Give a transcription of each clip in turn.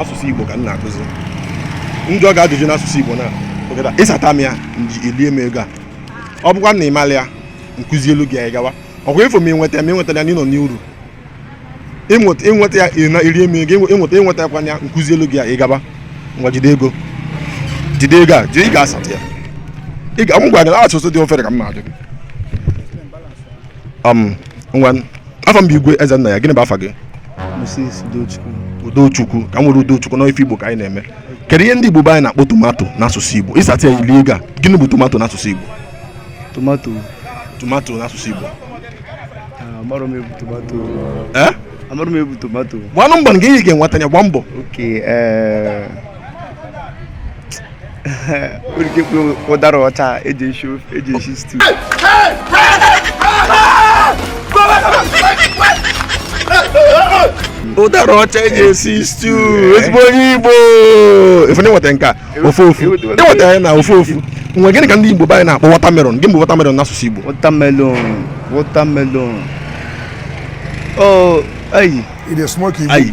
asụsụ igbo ka m na-akụzi m jụọ gị ajụjụ n'asụsụ igbo na ogeda ị sata m ya i lie m ego a ọ bụkwa na ị marọ ya m kụzielu gị anyị gawa ọkwa ifo m ịnweta m ịnweta ya na ị nọ n'uru ịnweta ya na erie m ego ịnweta ịnweta ya kwanya m kụzielu gị anyị gaba ngwa jide ego jide ego a jide ị ga-asata ya ka m gwa gị asụsụ dị ofere ka m na-ajụ gị um, ngwa afa m bụ igwe ezennaya gịnị bụ afa gị Moses Udochukwu udochukwu ka m nwere udochukwu n'ife igbo ka anyị na-eme kedu ihe ndị igbo be anyị na-akpọ tomato n'asụsụ igbo ị sata ya i lie ego a gịnị bụ tomato n'asụsụ igbo tomato tomato n'asụsụ igbo Ah, amarọ m ihe bụ tomato ee amarọ m ihe bụ tomato gbanụ mbọ nke ị ga-enweta ya gba mbọ oke ee orike mkpụrụ ụdara ọcha eji esi ofe eji esi stew ụdara ọcha eji esi stew ezigbo onye igbo ị fụ na i nweta nke a ofu ofu i nweta ya na ofu ofu nwe gịnị ka ndị igbo be anyị na-akpọ watermelon gịnị bụ watermelon n'asụsụ igbo watermelon watermelon oh anyụ It is smoky. anyụ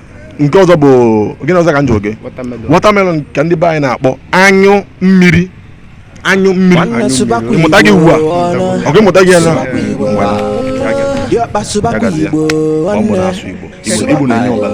nke ọzọ bụ gịnị ọzọ ka m jụọ gị watermelon ka ndị be anyị na-akpọ anyụ mmiri anyụ mmiri ị mụtago ya ugbu a ọgụ ị mụtago ya na Igbo na-enye ọbara